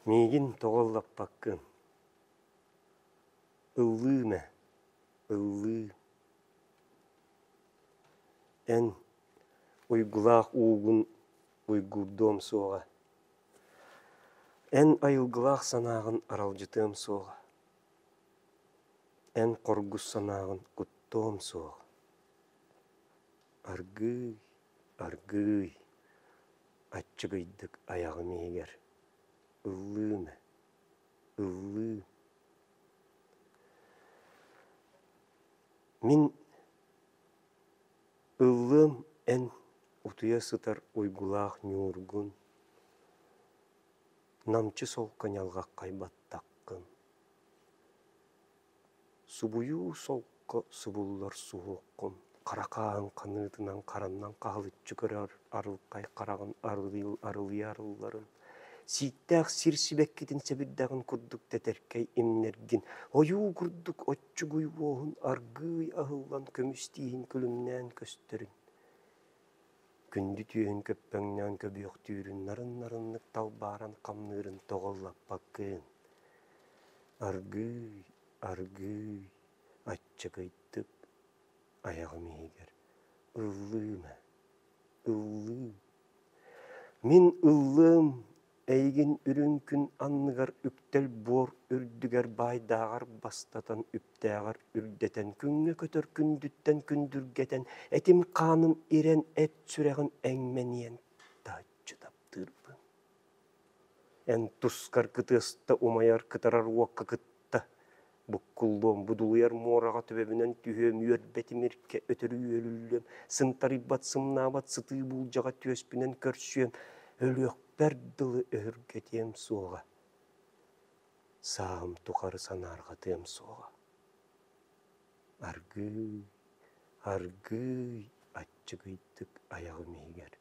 Миигин тоҕо ыллаппаккын? Ыллыым ээ, ыллыым. Эн уйгулаах уугун уйгуурдуом суоҕа. Эн айылгылаах санааҕын аралдьытыам суоҕа. Эн хоргус санааҕын куттуом суоҕа. Аргыый, аргыый, аччыгыйдык айаҕым иһигэр ыллыына, ыллыы. Мин ыллыам эн утуйа сытар уйгулаах ньуургун, намчы солко ньалҕаххай баттаккын. Субуйуу солко субуллар суһуоххун, хара хааһын ханыытынан хараннан хаһылыччы көрөр арылхай хараҕын арылыйа арылларын, сииктээх сир сибэккитин сэбирдэҕин курдук тэтэркэй имнэргин, ойуу курдук оччугуй уоһун аргыый аһыллан көмүс тииһин күлүмнээн көстөрүн. Күндү түөһүн көппөҥнөөн көбүөхтүүрүн нарын-нарыннык талбааран хамныырын тоҕуллаппаккын. Аргыый, аргыый, аччыгыйдык айаҕым иһигэр ыллыым ээ, ыллыы. Мин ыллыам Эйигин үрүҥ күн анныгар үктэл буор үрдүгэр баайдааҕар бастатан үптээҕэр үрдэтэн күҥҥэ көтөр күндүттэн күндүргэтэн этим-хааным ирэн эт сүрэҕим эҥмэниэн таһыччы таптыырбын эн тускар кытыаста умайар кытарар уокка тутта буккуллуом будулуйар муораҕа төбөбүнэн түһүөм үөрбэ тимиркэ өтөрү үөлүллүөм сынтарыйбат сымнаабат сытыы буулдьаҕа түөспүнэн көрсүөм өлүөхпэр дылы өһүргэтиэм суоҕа саам тухары санаарҕатыам суоҕа аргыый аргыый аччыгыйдык айаҕым иһигэр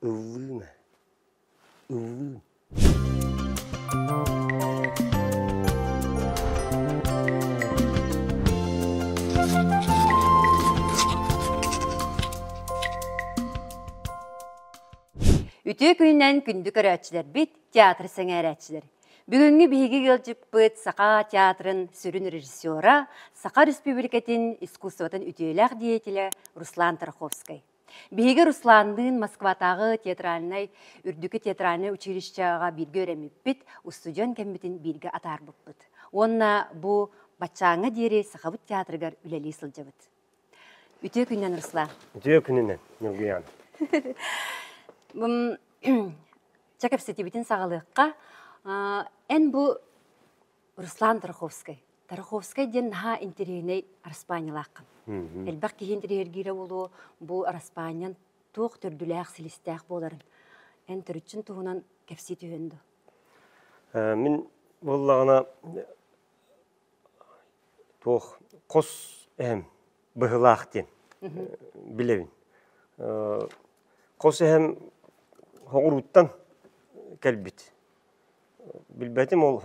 ыллыым ээ Үтүө күнүнэн күндү көрөөччүлэрбит, театр сэҥээрээччилэр. Бүгүҥҥү биһиги ыалдьыппыт Саха театрын сүрүн режиссера, Саха Республикатын искусствотын үтүөлээх деятеля Руслан Тараховскай. Биһиги Русланныын Москватааҕы театральнай, үрдүкү театральнай училищеҕа бииргэ өрөммүппүт, устудьуон кэммитин бииргэ атаарбыппыт. Уонна бу баччааҥҥа диэри Сахабыт театрыгар үлэлии сылдьабыт. Үтүө күнүнэн, Руслан. Үтүө күнүнэн, Ньургуйаан. Чэ кэпсэтиибитин саҕалыахха. Эн бу Руслан Тараховскай. Тараховскай диэн наһаа интэриэһинэй араспаанньалааххын. Элбэх киһи интэриэһиргиирэ буолуо, бу араспаанньан туох төрдүлээх, силистээх буоларын. Эн төрүччүн туһунан кэпсии түһүөн дуо? Э, мин буоллаҕына туох хос эһэм быһылаах диэн билэбин. Э, хос эһэм Хоҕурууттан кэлбит. Билбэтим ол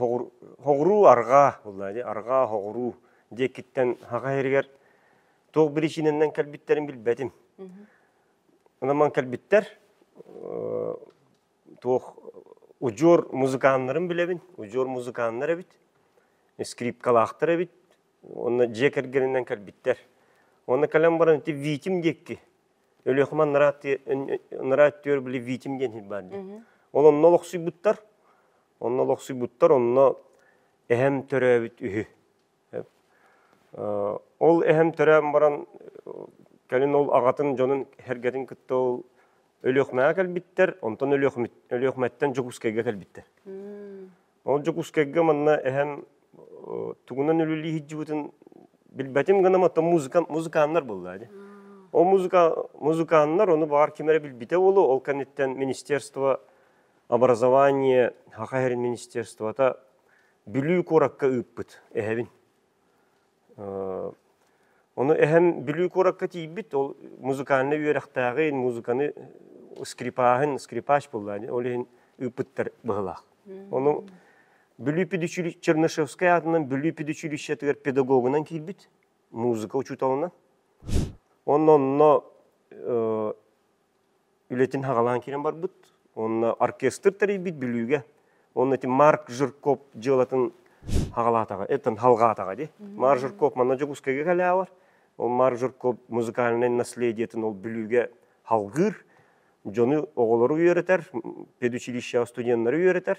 хоҕуруу арҕаа, арҕаа хоҕуруу диэкиттэн хаҕа иһэригэр туох биричиинэннэн кэлбиттэрин билбэтим. Онон кэлбиттэр туох удьуор музыканнарын билэбин, удьуор музыканнар эбит, скрипкалаахтар эбит, уонна дьиэ кэргэнинэн кэлбиттэр. Уонна кэлэн баран ити Витим диэкки Өлүөхүмэн нараа өттүгэр били Витим диэн иһит баар дии. Ол онно олохсуйбуттар. Онно олохсуйбуттар, онно эһэм төрөөбүт үһү. Ол эһэм төрөөн баран кэлин ол аҕатын дьонун эргэтин кытта ол Өлүөхүмэҕэ кэлбиттэр, онтон Өлүөхүмэттэн Дьокуускайга кэлбиттэр. Ол Дьокуускайга манна эһэм тугунан үлэлии сылдьыбытын билбэтим гынан оттон музыкант музыканнар буолла ди. Ол музыка музыканнар ону баар ким эрэ билбитэ болу ол кэнниттэн министерство образование хаха министерствота Бүлүү куоракка ыыппыт эһэбин. Ону эһэм Бүлүү куоракка тиийбит, ол музыкальнай үөрэхтээҕи музыканы скрипаһын, скрипач буллаан, ол иһин ыыппыттар быһылаах. Ону Бүлүү педучилищ Чернышевскай аатынан Бүлүү педучилищетыгар педагогунан киирбит музыка учууталынан. Онно онно үлэтин хаҕалаан киирэн барбыт. Уонна оркестр тэрийбит Бүлүүгэ. Уонна ити Марк Жирков дьыалатын хаҕалаатаҕа, этэн халҕаатаҕа дии. Марк Жирков манна Дьокуускайга кэлээҕэр. Ол Марк Жирков музыкальнай наследиетин ол Бүлүүгэ халҕыыр. Дьону, оҕолору үөрэтэр, педучилищеҕа студеннары үөрэтэр.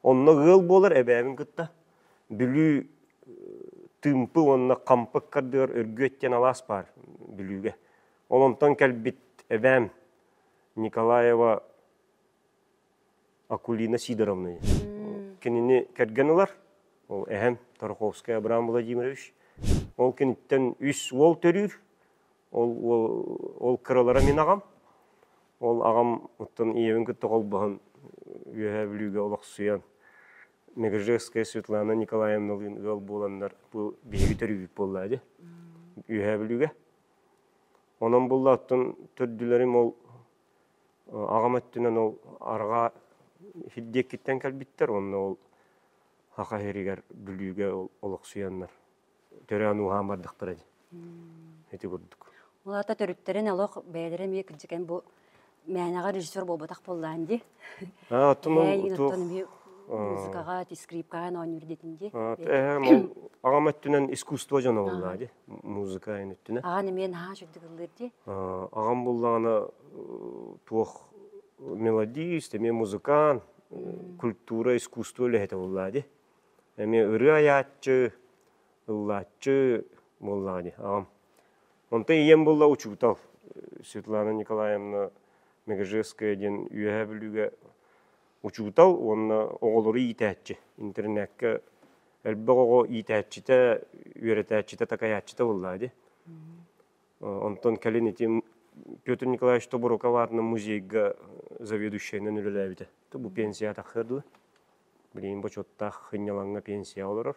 Онно ыал буолар эбээбин кытта Бүлүү тымпы уонна хампык кардыар Өргүөт диэн алаас баар Бүлүүгэ. Ол онтон кэлбит эбээм Николаева Акулина Сидоровна. Кинини кэргэн ылар. Ол эһэм Тарковский Абрам Владимирович. Ол киниттэн үс уол төрүүр. Ол уол, ол кыралара мин аҕам. Ол аҕам оттон ийэбин кытта холбоһон үөһээ бүлүүгэ олохсуйан Мегржевская Светлана Николаевналыын ыал буоланнар бу биһиги төрүүбүт буоллаа дии. Үөһээ бүлүүгэ. Онон буллааттан төрдүлэрим ол аҕам өттүнэн ол арҕаа сирдиэкиттэн кэлбиттэр уонна ол Саха сиригэр Бүлүүгэ олохсуйаннар төрөөн ууһаан бардахтара ити курдук. Улаата төрүттэрин олох бэйэлэрэ эмиэ кырдьыкэн бу мээнэҕэ режиссер буолбатах буоллаан дии. А, оттон музыкаҕа, скрипкаҕа оонньуур дэтин дии. Эһэм аҕам өттүнэн искусство дьоно буоллаа дии, музыка эн өттүнэн. Аҕаны мен наһаа чуттук ыллыыр дии. Аҕам буллаҕына туох мелодист, эмиэ музыкант, культура, искусство үлэһитэ буллаа дии. Эмиэ ырыа айааччы, ыллааччы буоллаҕа дии аҕам. Онтон ийэм булла учуутал Светлана Николаевна Мегежевская диэн Үөһээ Бүлүүгэ учуутал уонна оҕолору иитээччи. Интернетке элбэх оҕо иитээччитэ, үөрэтээччитэ, такайааччыта булла ди. Онтон кэлин ити Петр Николаевич Тоборуков аатынан музейга заведующайынан үлэлээбитэ. Бу пенсия таххыа дуо? Билигин бочуоттаах хынньалаҥҥа пенсия олорор.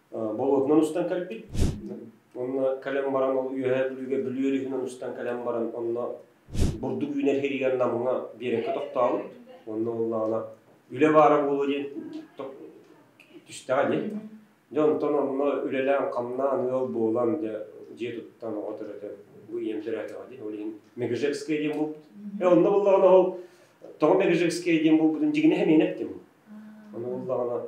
болотунан устан кэлбит. Онно кэлэн баран ол үөһээ бүлүүгэ бүлүү өрүһүнэн устан кэлэн баран онно бурдук үүнэр сиригэр намыҥа биэрэккэ тохтообут. Онно буоллаҕына үлэ баара буолуо диэн түстэҕэ дии. Дьэ онтон онно үлэлээн хамнаан ыал буолан дьэ дьиэ туттан оҕо төрөтө бу ийэм төрөөтөҕө дии. Ол иһин Мегежекская диэн булбут. Э онно буоллаҕына ол тоҕо Мегежекская диэн булбутун дьигинэ хэмээн эттим. Ону буоллаҕына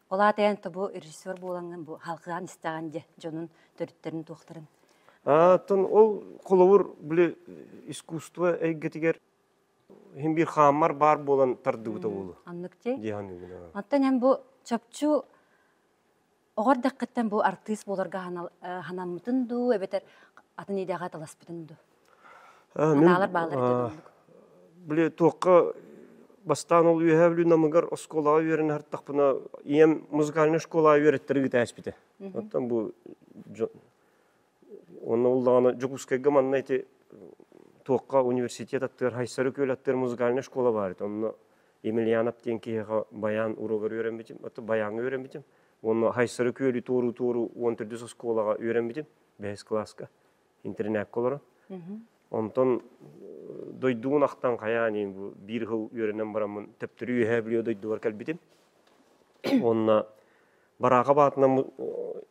Ол аата эн тобу режиссер буолаҥҥын бу халкаан истэҕин дьэ дьонун төрүттэрин туохтарын Аатын ол холобур били искусство эйгэтигэр иһин биир хааммар баар буолан тардыбыта буолу. Аннык ти? Диһан үгүн. Оттон эн бу чопчу оҕор дэккэттэн бу артыыс буоларга ханаммытын дуу, эбэтэр атын идеҕэ таласпытын дуу? Атаалар бааллар ити оннук. Били туохха бастаан ол үөһээ Бүлүү Намыгар оскуолаҕа үөрэнэ артахпына ийэм музыкальнай школаҕа үөрэттэри бүтээспитэ. Оттон бу уонна ол даҕаны Дьокуускайга манна ити туохха университет аттыгар Хайсар Үкүөл аттыгар музыкальнай школа баар еді. Онно Емельянов диэн киһиэхэ баян уруогар үөрэммитим. Оттон баяҥҥа үөрэммитим. Уонна Хайсар Үкүөлү туоруу-туоруу уон төрдүс оскуолаҕа үөрэммитим бэһис кылааска. интернекка олорон. Онтон дойдугун ахтан хайаан ин биир хыл үөрэнэн бараммын төптөрү үөһэ билио дойдугар кэлбитим. Онна бараака баатынан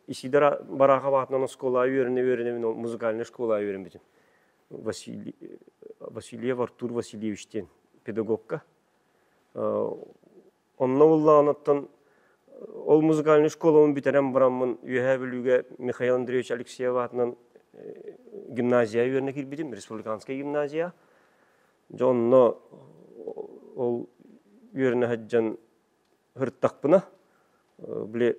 исидара бараака баатынан оскуола үөрэнэ үөрэнэбин музыкальный школа үөрэнбитим. Василий Василиев Артур Васильевич диэн педагогка Онно буллаҕыныттан ол музыкальнай школабын бүтэрэн бараммын Үөһээ Бүлүүгэ Михаил Андреевич Алексеев аатынан гимназия үөрэнэ киирбитим, республиканскай гимназия. Дьэ онно ол үөрэнэ сылдьан сырыттахпына, били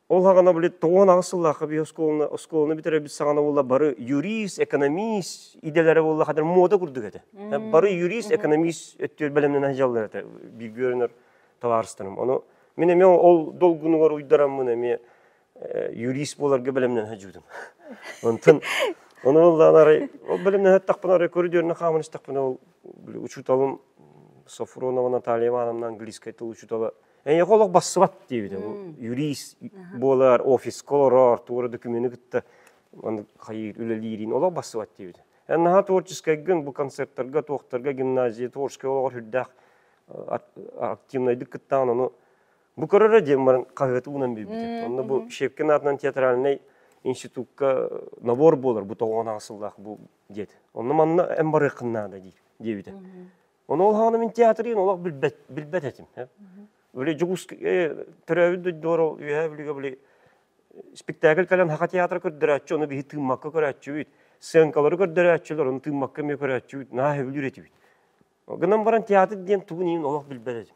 Ол хаҕана били тоҕуон аҕыс сыллаахха би оскуоланы оскуоланы бүтерэбит саҕана буолла бары юрист, экономист идэлэрэ буолла хатар муода курдук этэ. Бары юрист, экономист өттүөр бэлэмнэнэн дьаллар этэ билгүөрөнөр табаарыстарым. Ону мин эмиэ ол долгунугар уйдараммын эмиэ юрист буоларга бэлэмнэнэ жуутум. Онтон Оны оллаан арай ол бэлэмнэһэ тахпын арай көрүдүөрүнө хаамын истэхпинэ ол учуталым Софронова Наталья Ивановна английскай тыл учутала Эйиэхэ олох бассыбат диэбитэ. Юрист буолар, офиска олорор, туора документы кытта хайыыр үлэлиирин олох бассыбат диэбитэ. Эн наһаа творческайгын бу концерттарга, туохтарга, гимназия, творческай олоҕор үрдээх активнайдык кыттаҕын ону бу көрөрө диэн баран хаһыаты уунан билбитим. Онно бу Шепкин аатынан театральнай институтка набор буолар бу тоҕуон аҕыс сыллаах бу диэт. Онно манна эн барыаххын наада дии диэбитэ. Оны ол хаана мин театрын олох билбэт билбэт этим. Били Дьугус төрөөбүт дойдуора үөһэ билиге били спектакль кэлэн хака театр көрдөрөөччү, ону биһи тыыммакка көрөөччүбүт, сценкалары көрдөрөөччүлөр, ону тыыммакка эмиэ көрөөччүбүт, наһаа сөбүлүүр этибит. Гынан баран театр диэн тугун иһин олох билбэт этим.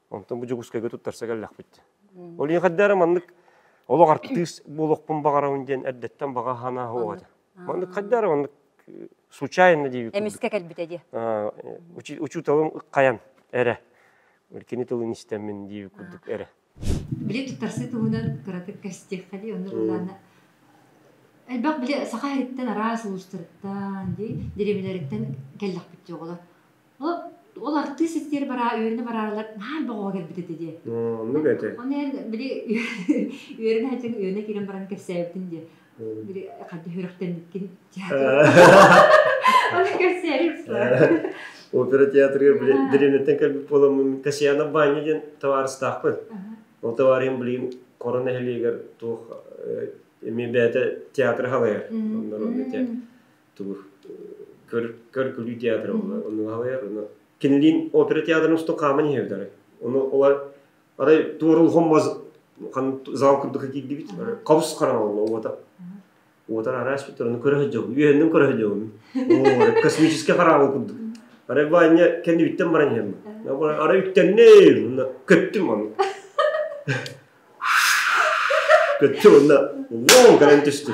Онтон бу Дьокуускайга туттарса кэллэхпит. Ол ийэхэрдээри маннык олох артыыс буолуохпун баҕарабын диэн эрдэттэн баҕа хаанааһа оҕо этэ. Маннык хайдары маннык э, случайно диэбит Эмискэ кэлбитэ диэ. Учууталым хайан эрэ кини тылын истэммин диэбит курдук эрэ. Били туттарсы туһунан кыратык кэстиэххэ дии, оннук ылаана. Элбэх били саха иһиттэн араас улуустарыттан, дии, деревнэлэриттэн кэллэхпит дии оҕолор. ол артыыс ситтиэр бараа үөрэнэ бараарылар наар боҕоҕо кэлбит этэ диэ оннук этэ оны эн били үөрэнэ сылдьан үөрэнэ киирэн баран кэпсээбитин диэ били хадьа үрэхтэммиккин аны кэпсээбит опера театрыгар били дэриэбинэттэн кэлбит буоламмын касьянов баня диэн табаарыстаахпын ол табаарыйым билигин Корон нэһилиэгэр туох эмиэ бэйэтэ театры халайар оннор тугу көр көргүлүү театр онуаһыйар ону кинилин опера театрын усту хааман иһэбитары ону олар арай туорулхом маз хан зал курдук киирдибит хабыс харан олно уота уотар араас бүттөр ону көрө жобу үөһүнүн көрө жобу о космический хараал курдук арай бааньа кэнни бүттэн баран иһэм арай үттэннэ көттүм ону көттүм онна лоң гынан түстү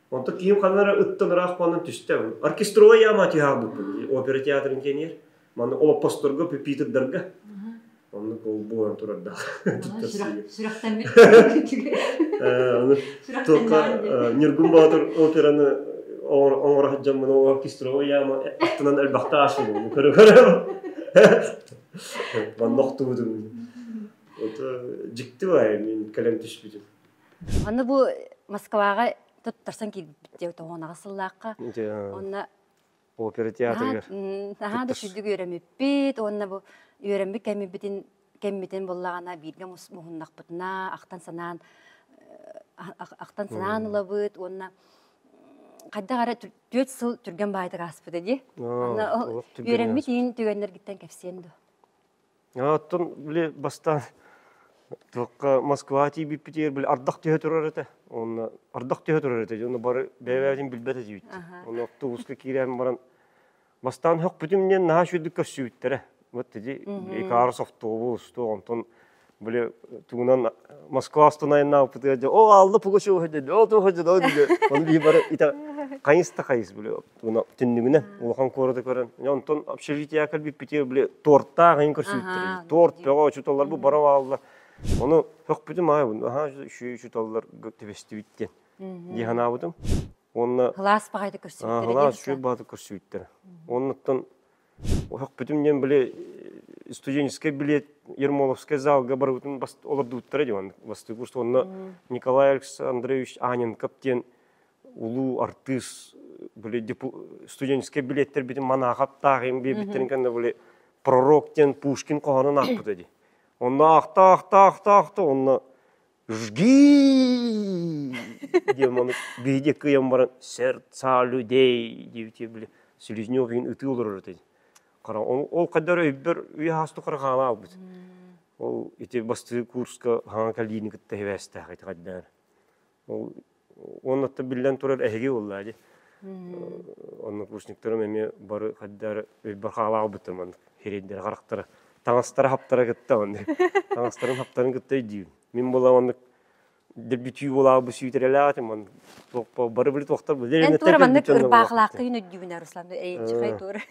Онтон киһим ханна эрэ ыттан ыраах буолан түстэ. Оркестровай яма тыаһаабыппын. Опера театрын киэнигэр. Манна олоппосторго, пюпитырдарга. Оннук буолан турардаах. Сүрэхтэммит. Ньургун Боотур операны оҥоро сылдьаммын оркестровой яма аттынан элбэхтэ аашыбын көрө манна охтубутум дьикти бай мин кэлэн түспүтүм Аны бу Москваҕа туттарсан киирбит диэ тоһуонаҕа сыллаахха. Онно опера театрыгар наһаа да сүдүк үөрэммиппит уонна бу үөрэммит кэммитин кэммитин буллаҕына бииргэ муһуннахпытына ахтан-санаан ахтан-санаан ылабыт уонна хайдах эрэ түөрт сыл түргэн баайытык ааспыта дии. Үөрэммит иин түгэннэргиттэн кэпсиэн дуо? Оттон били бастаан туохха Москва тиийбиппитигэр били ардах түһэ турар этэ уонна ардах түһэ турар этэ дии онно бары бэйэ-бэйэтин билбэт этибит. Ону автобуска киирэн баран бастаан сөхпүтүм диэн наһаа үчүгэйдик көрсүбүттэрэ. Вот эти Икарус автобус туох онтон били тугунан Москва остановеннаабыппытыгар дьэ ол Алла Пугачева деді ол туох деді ол диге ону бии бары ите хайыс да хайыс били түннүгүнэ улахан куораты көрөн онтон общежития кэлбиппитигэр били тортаах иһин көрсүбүттэр торт бөҕө учуталлар бу бара баалла ону хөхпүтүм аайбын аhaa үчү учуталлар түбэстибит диэн дии санаабытым уонна кылаас баҕайыта көрсүбүттэр кылаас үчүгэй баата көрсүбүттэр оннуттан хөхпүтүм диэн били студенческай билет ермоловскай залга барыбытын олордубуттара диэн бастыы курс уонна Николай Александрович Аненков диэн улуу артыыс были студенческай билеттэрбитин манаахаптаах им биэбиттэрин кэннэ были пророк диэн Пушкин хоһонун аахпыта ди онно ахтаахтаахтаахта онно жги диэн ону биһиде кыйан баран сердца людей диэбитэ били слюзнёв иһин ытыы олорор этэ хара ол каддар өйбөр үйэхасту харахаана албыт ол ити бастыы курска хаҥа калиины кытта хевээстээх ити каддар Уонна атта биллэн турар эһиги болла ди. Однокурсниктарым эми бары хаддар өйбөр хаалаах бытыман херейдер характара таңастара хаптара кытта он таңастарын хаптарын кытта өйдүүн мин була оннук дебютүй болаа бу сүүтерелаатым он бары били токтор эн тура маннык ырпаахлаакка үн өйдүүбүн Руслан эйчхай тур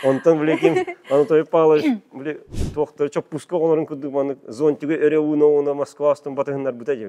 онтон блеким аны той палыш били токтор чоппуска онорун курдук маннык зонтига эре ууна уна Москва астын батыһыннар быта же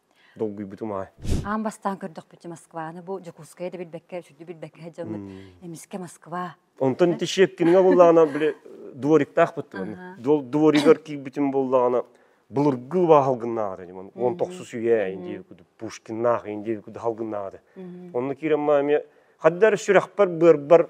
долгуйбутум аа аан бастаан көрдөхпүтэ москваны бу дьокуускайы да билбэккэ үчүгдүү билбэккэ сылдьаммыт эмискэ москва онтон тещепкиҥҥэ буоллаҕына били двориктаахпыттыбын дворигар киирбитим буоллаҕына былыргы убаһалгыннааҕар эдим он тохсус үйэ индиев куду пушкиннаах индиев куду халгыннааҕар онну киирэн ма эмиэ хаддар сүрэхпэр быарбар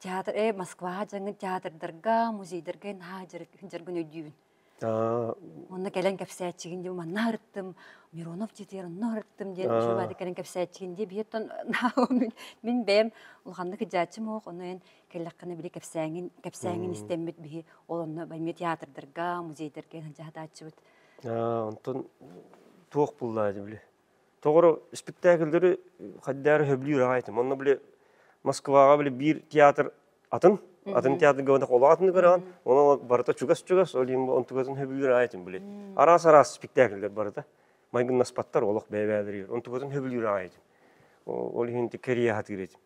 Театр, э, Москваҕа дьаҥҥын театрдарга, музейдарга наһаа дьарыгын өйдүүбүн. Онно кэлэн кэпсээччигин диэн манна сырыттым, Миронов титир онно сырыттым диэн Жевади кэлэн кэпсээччигин диэн биһиэттэн мин бэйэм улаханнык кыдьааччым оһох, ону эн кэллэххинэ били кэпсээҥин кэпсээҥин истэммит биһи ол онно эмиэ театрдарга, музейдарга сылдьаатааччыбыт. Онтон туох буллаа дии били? Тоҕоро испиктээкилдери хайдаары хөбүлүүр аҕайтым. Онно били Москваҕа били биир театр атын, атын театр габатах олох атын көрөҕүн, онон барыта чугас-чугас, ол иһин бу онтугатын хөбүлүүр аҕайтым били. Араас-араас спектакльлэр барыта майгыннаспаттар олох бэйэ-бэйэлэригэр. Онтугатын хөбүлүүр аҕайтым. Ол иһин ити кэрийэ хатыыр этим.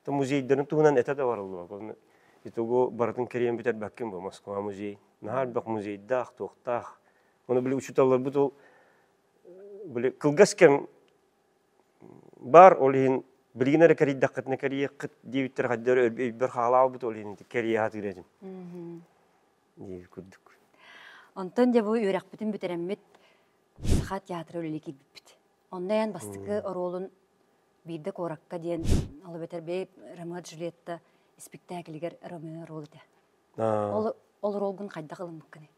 То музейдарын туһунан этэ да барыллыбак. Онно итого барытын кэрийэн бүтэрбэккин бу Москва музей. Наһаа элбэх музейдаах, туохтаах. Оны били учууталларбыт ол били кылгас кэм баар ол иһин билигин эрэ кэрийдэххитинэ кэрийиэххит диэбиттэр хайдары өйбөр хаалаабыт ол иһин кэрийэ сатыыр этим диир курдук онтон дьэ бу үөрэхпитин бүтэрэммит саха театра үлэлии киирбиппит онно эн бастакы оруолун биирдэ куоракка диэн ол эбэтэр бэйи ромео джульетта испиктээкилигэр ромео рол этэ ол ол ролгун хайдах ылыммыккыный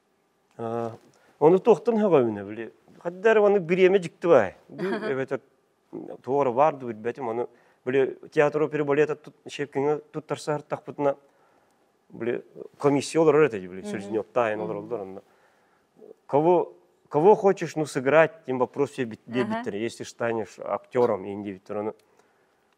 Оны туохтан хөҕөмүнэ били хадда эрэ маннык бириэмэ дьикти баай. Эбэтэр туора баар да билбэтим ону били театр опера балета шепкиҥе туттарсаһартахпытына били комиссия олорор этэ били Селезнев таайын олороллор онно кого кого хочешь ну сыграть тем вопрос тебе диэбиттэр если станешь актером индивидуально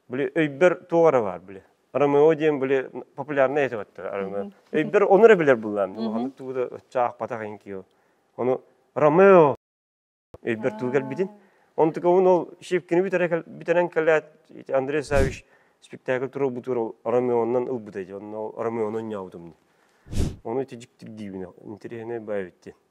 били өйбөр туох эрэ баар били Ромео диэн били популярнай этэ баттар Ромео. Өйбөр ону эрэ билэр буллаам. Улаханнык тугу да оччо аахпатах ин киһи. Ону Ромео өйбөр тугу кэлбитин. Онтука ол шипкини бүтэрэн кэлээт Андрей Савич спектакль туруо бутур Ромеоннан ылбыта ди. Онно Ромеонан ньаутумну. Ону тижиктир диибин. Интереснай бай битти.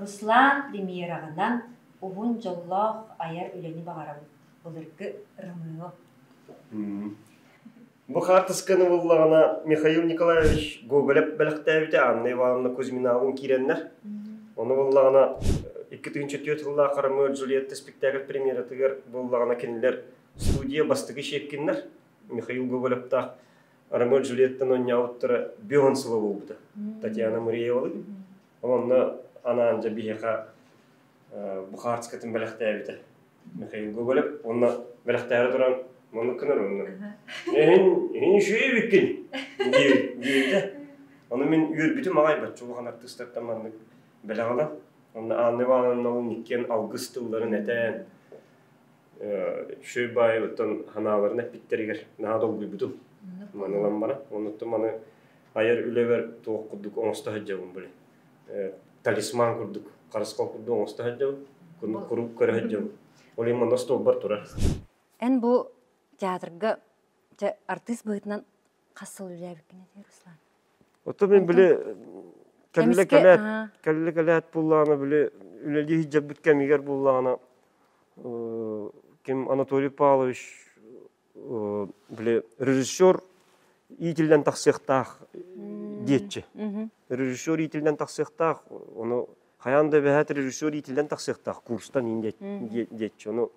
Руслан премьераҕынан уһун дьоллоох айар үлэни баҕарабыт, былыргы Ромео Бу хаартысканы буллаҕына Михаил Николаевич Гоголев бэлэхтээбитэ Анна Ивановна Кузьминалыын киирэннэр, ону буллаҕына икки тыһыынча түөрт сыллаах «Ромео и Джульетта» спектакль премьератыгар буллаҕына кинилэр студия бастакы Щепкиннэр Михаил Гоголевтаах Ромео и Джульеттаны оонньообуттара Бион сыла буолбута. Татьяна Мариевалыгын. Онно анаан дьэ биһиэхэ бухарскатын бэлэхтээбитэ Михаил Гоголев. Онно бэлэхтээри туран маннык гынар онно. Эһин эһин шүребиккин диэбитэ. Ону мин үөрбүтүм аҕайбаччы улахан артыыстартан маннык бэлэҕэлэн. Онно Анна Ивановналыын иккиэн алгыс тылларын этэн Шөй баайылыттан ханааларын эппиттэригэр наһаа долгуйбутум. Маны ламмана, онуттан маны айар үлэбэр туох курдук оҥосто сылдьабын били. Талисман курдук, харысхал курдук оҥосто сылдьабын, куруук көрө сылдьабын. Ол иһин манна столбар турар. Эн бу театрга артыыс быһыытынан хас сыл үлээбиккинэ Руслан Ото мин били кэллэ кэлээт кэллэ кэлээт буллаҕына били үлэлии сылдьарбыт кэмигэр буллаҕына ким Анатолий Павлович били режиссер иитиллэн тахсыахтаах диэччи режиссер иитиллэн тахсыахтаах ону хайаан да бэһээт режиссер иитиллэн тахсыахтаах курстан иин диэччи ону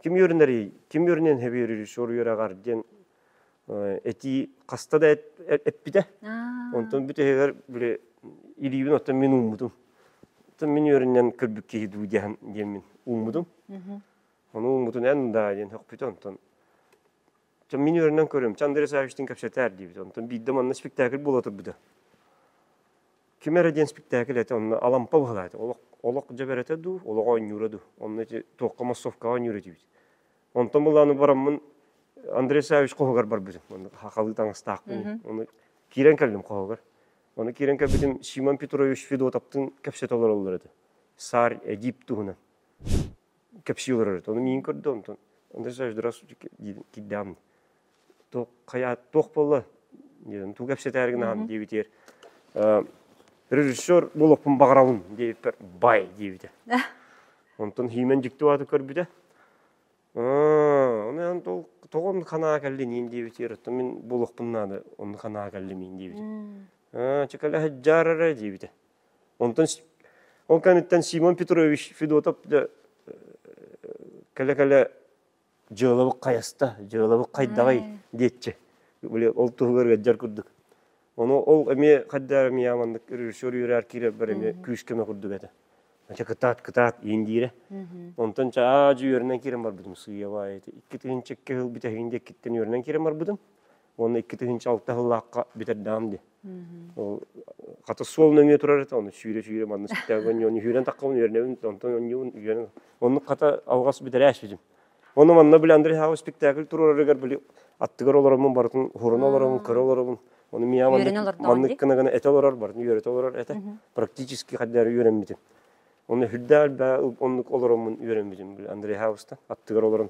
ким үөрүнэрий, ким үөрүнэн хэби режиссер үөрэҕэр диэн этии хаста да эппитэ. Онтон бүтэһигэр били илиибин оттон мин ууммутум. Оттон мин үөрүннэн көрбүк киһи дуу диэн диэммин ууммутум. Ону ууммутун эн да диэн хөхпүтэ онтон мин үөрэнэн көрүм Андрей Савичтыын кэпсэтээр диибит онтон биирдэ манна спектакль буола турбута ким эрэ диэн спектакль этэ онно алампа быһылаата олох олох дьэбэрэтэ дуу олох оонньуура дуу онно туохха массовкаҕа оонньуура диибит онтон былааны бараммын Андрей Савич хоһугар барбытым онно хахалыы таҥастаахпын оны киирэн кэллим хоһугар оны киирэн кэлбитим Симон Петрович Федотовтыын кэпсэтэ олороллор этэ саар эдип туһунан кэпсии олорор ону миин көрдө онтон андерсач дурас диибин киирдэҕим туох хайа туох буолла диэн тугу кэпсэтээр гынаһам диэбитигэр режиссер болоппун баҕарабын диэбиппэр бай диэбитэ онтон хиимэн дьикти бааты көрбүтэ оны ан тол тоҕон ханаа кэллиниин диэбитигэр оттон мин болоппун наада оны ханаа кэллимиин диэбитэ чекале хажжаарара диэбитэ Онтон ол кэнниттэн Симон Петрович Федотов кэлэ-кэлэ дьыалабык хайаста, дьыалабык хайдаҕай диэччи. Били ол туһугар ыаддьар курдук. Ону ол эмиэ хайдаар эмиэ аманнык режиссер үөрээр киирэрбэр эмиэ күүскэмэ курдук этэ. Ача кытаат кытаат иин диирэ. Онтон чаажы үөрэнэн киирэн барбытым сыыйабаайыты. Икки тыһын чекке хыл бүтэһигин диэккиттэн үөрэнэн киирэн барбытым. Уонна икки тыһыынча алта сыллаахха бүтэрдэҕим дии. Ол хата суол нөҥүө турар этэ, ону сүүрэ-сүүрэ манна сүттээбин онньоон үһүрэн таххабын үөрэнэбин, онтон онньуун үөрэн. Оннук хата алҕас бүтэрээшпитим. Оны манна били Андрей Саввич спектакль туруорарыгар били аттыгар олороммун барытын уһуран олоробун, көрө олоробун. Оны мия маннык кынагана эте олорор, барын үөрөтө олорор этэ. Практически хаддары үөрэммитим. Оны хүрдэ алба оннук олороммун үөрэммитим били Андрей Саввичтан аттыгар олорон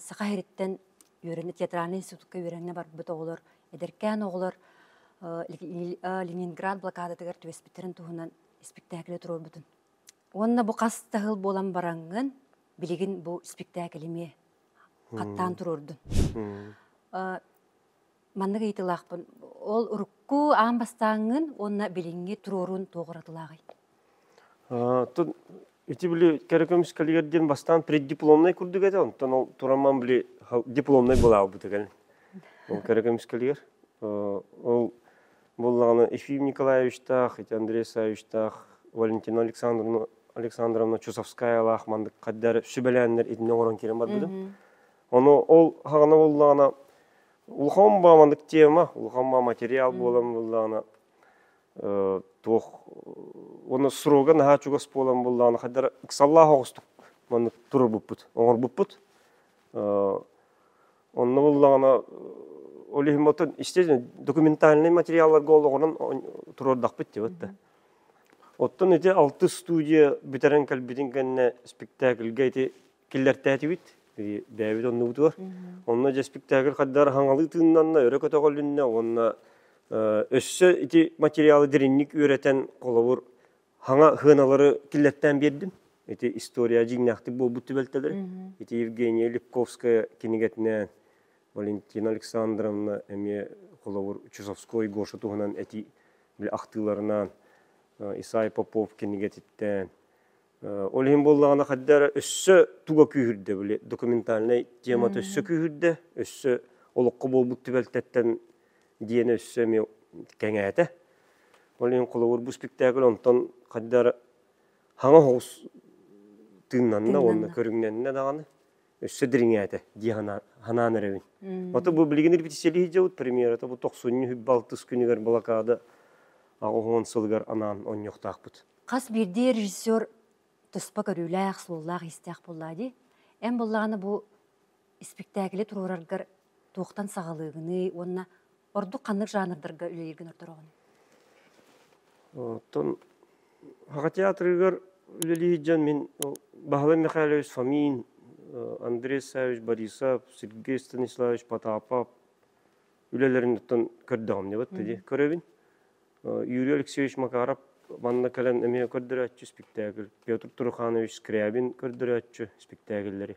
саха иһириттэн үөрэнэ театральнай институкка үөрэнэ барбыт оҕолор эдэркээн оҕолор ленинград блокадатыгар түбэспиттэрин туһунан испиктээкили туруорбутун уонна бу хас да сыл буолан бараҥҥын билигин бу испиктээкили эмиэ хаттаан туруордун Маннык ыйытыылаахпын. Ол урукку аан бастааҥҥын уонна билиҥҥи туруоруун туох уратылааҕый? Оттон ити били кэрэ көмүс кэлигэр диэн бастаан преддипломнай курдук этэ, онтон ол турамман били дипломнай была буолбута кэлин. Ол кэрэ көмүс кэлигэр. Ол буоллаҕына Ефим Николаевичтаах, ити Андрей Савичтаах, Валентина Александровна Александровна Чусовскаялаах маннык хаддар сүбэлээннэр итиннэ оҥорон киирэн барбытым. Ону ол хагана буллаҕына улахан бааманнык тема, улахан баа материал буолан буллаҕына туох уонна срога наһаа чугас буолан буллаҕына хайдара ыксаллаах оҕустук маннык турбуппут, оҥорбуппут. Онно буллаҕына ол иһин мотон естественно документальный материалларга олоҕуран туруордахпыт дебатта. Оттон ити алтыс студия бүтэрэн кэлбитин кэннэ спектакльгэ ити киллэртээтибит бэйэбит оннубутугар онно дьэспиктаагыр хаддар хаҥалыы тыыннанна өрө көтөҕөлүннэ уонна өссө ити материалы диринник үөрэтэн холобур хаҥа хыаналары киллэртээн биэрдим ити история дьиҥнээхтик буолбут түбэлтэлэри ити евгения липковская кинигэтинээн валентина александровна эмиэ холобур чусовской гоша туһунан эти ахтыыларынан исай попов кинигэтиттэн Ол иһин буоллаҕына хадда эрэ өссө туга күүһүрдэ били документальнай темата өссө күүһүрдэ, өссө олоххо буолбут түбэлтэттэн диэн өссө эмиэ кэҥээтэ. Ол иһин холобур бу спектакль онтон хадда хаҥа оҕус тыыннанна уонна көрүҥнэннэ даҕаны. өссө дириҥээтэ дии санаан эрэбин. Ото бу билигин репетициялии дьабыт премьера то бу тохсунню балтыс күнүгэр блокада аҕыһон сылыгар анаан онньохтаахпыт. Хас бирдии режиссер туспа көрүүлээх, суоллаах-истээх буоллаа ди. Эн буллаҕына бу испиктээкили туруораргар туохтан саҕалыыгыный уонна ордук ханнык жанрдарга үлэлииргин ортороҕун? Оттон Аҕа театрыгар үлэлиир дьон мин Баһылай Михайлович Фомин, Андрей Савич Борисов, Сергей Станиславович Потапов үлэлэриниттэн көрдөҕүм небат дии көрөбүн. Юрий Алексеевич Макаров манна кэлэн эмиэ көрдөрөөччү спектакль, Петр Туруханович Скрябин көрдөрөөччү спектакльлэри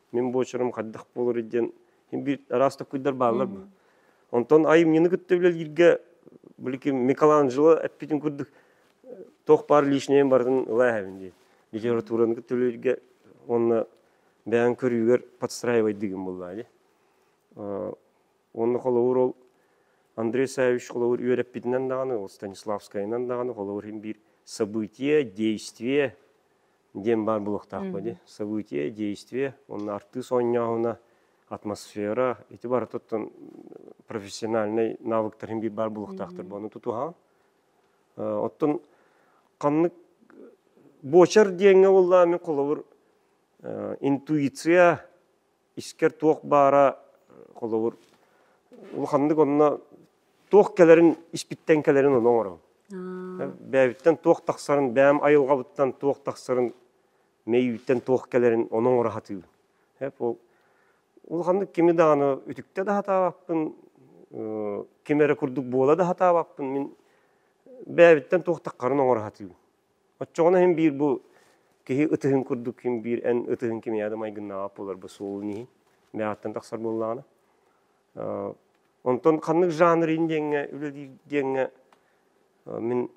мин буочарым хайдах буолар диэн биир араас таккуйдар бааллар бу онтон айымньыны кытта үлэлииргэ билики Микеланджело эппитин курдук тоқ пар лишнее барытын ыла эһэбин диэн литератураны кытта үлэлииргэ уонна бэйэн көрүүгэр подстраивайдыгым буллаа ди уонна холобур ол Андрей Савич холобур үөрэппитинэн даҕаны ол Станиславскайынан даҕаны холобур иһин биир событие действие диэн баар буолуохтаахпыт ди событие действие уонна артыыс оонньооһуна атмосфера ити барытыттан профессиональнай навыктарын биир баар буолуохтаахтар буону тутуһаан оттон ханнык буочар диэҥҥэ булла мин холобур интуиция искэр туох баара холобур улаханнык онно туох кэлэрин испиттэн кэлэрин ону оҥороҥ бэйэбиттэн туох тахсарын бэйэм айылҕабыттан туох тахсарын мэйииттэн туох кэлэрин ону оҥоро сатыыр ол улаханнык кими даҕаны үтүктэ да сатаабаппын ким эрэ курдук буола да сатаабаппын мин бэйэбиттэн туох тахсарын оҥоро сатыыбын Оччоҕуна иһин биир бу киһи ытыһын курдук ким биир эн ытыһын ким яда майгыннааҕа буолар бу суолун иһин мээҕэттэн тахсар буоллаҕына онтон ханнык жанр ин диэҥҥэ үлэлиир диэҥҥэ мин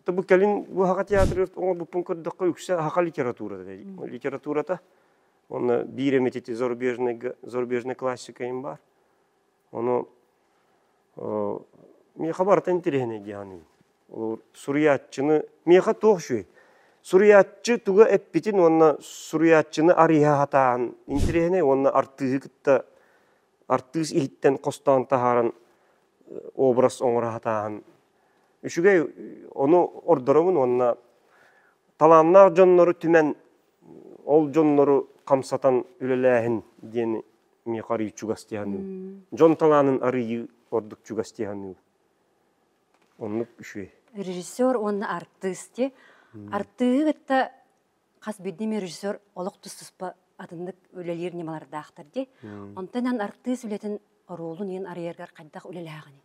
то бу кэлин бу аха театр оҥорбуппун көрдөххө үксэ аха литературата дей литературата уонна биир эмити зарубежнайга зарубежнай классика им бар ону Миха барыта интириэһинэй диэханыын. Ол суруйааччыны Миха туох үчүгэй? Суруйааччы туга эппитин уонна суруйааччыны арыйа сатаан интириэһинэй уонна артыыһы кытта артыыс иһиттэн хостоон таһааран образ оҥоро сатааһын үчүгэй. Ону ордоробун уонна талааннаах дьоннору түмэн ол дьоннору хамсатан үлэлээһин диэн миэхэ арыый чугас дии саныыбын дьон талаанын арыйыы ордук чугас дии саныыбын оннук үчүгэй режиссер уонна артыыс дии артыыһы кытта хас биирдии режиссер олох тус-туспа атыннык үлэлиир ньымалардаахтар дии онтон эн артыыс үлэтин оруолун иэн арыйаргар хайдах үлэлээҕиний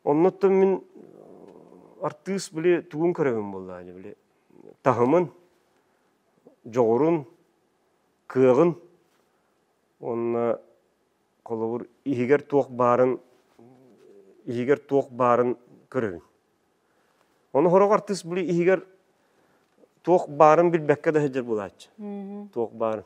Оннуттан мин артыыс били тугун көрөбүн буоллаҕа ини били таһымын, дьоҕурун, кыаҕын уонна холобур иһигэр туох баарын иһигэр туох баарын көрөбүн. Ону сорох артыыс били иһигэр туох баарын билбэккэ да сылдьар буолааччы. Туох баарын.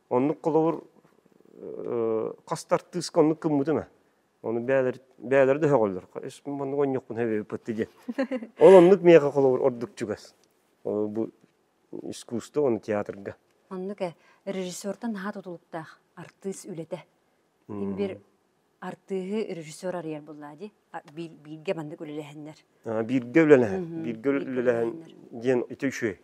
Оннук холобур хас артыыска оннук кыммытын а. Оны бээлер да хөҕөллөр. Ишмин маннык онньукпун хэбиппитти диэн. Ол оннук миэхэ холобур ордук чугас. Бу искусство, оны театрга. Оннук э, режиссертан наһаа тутулуктаах артыыс үлэтэ. Им бир Артыыһы режиссер арыйар буллаа дии. Биир, бииргэ маннык үлэлэһэннэр. Бииргэ үлэлэһэн, бииргэ үлэлэһэн диэн ити үчүгэй.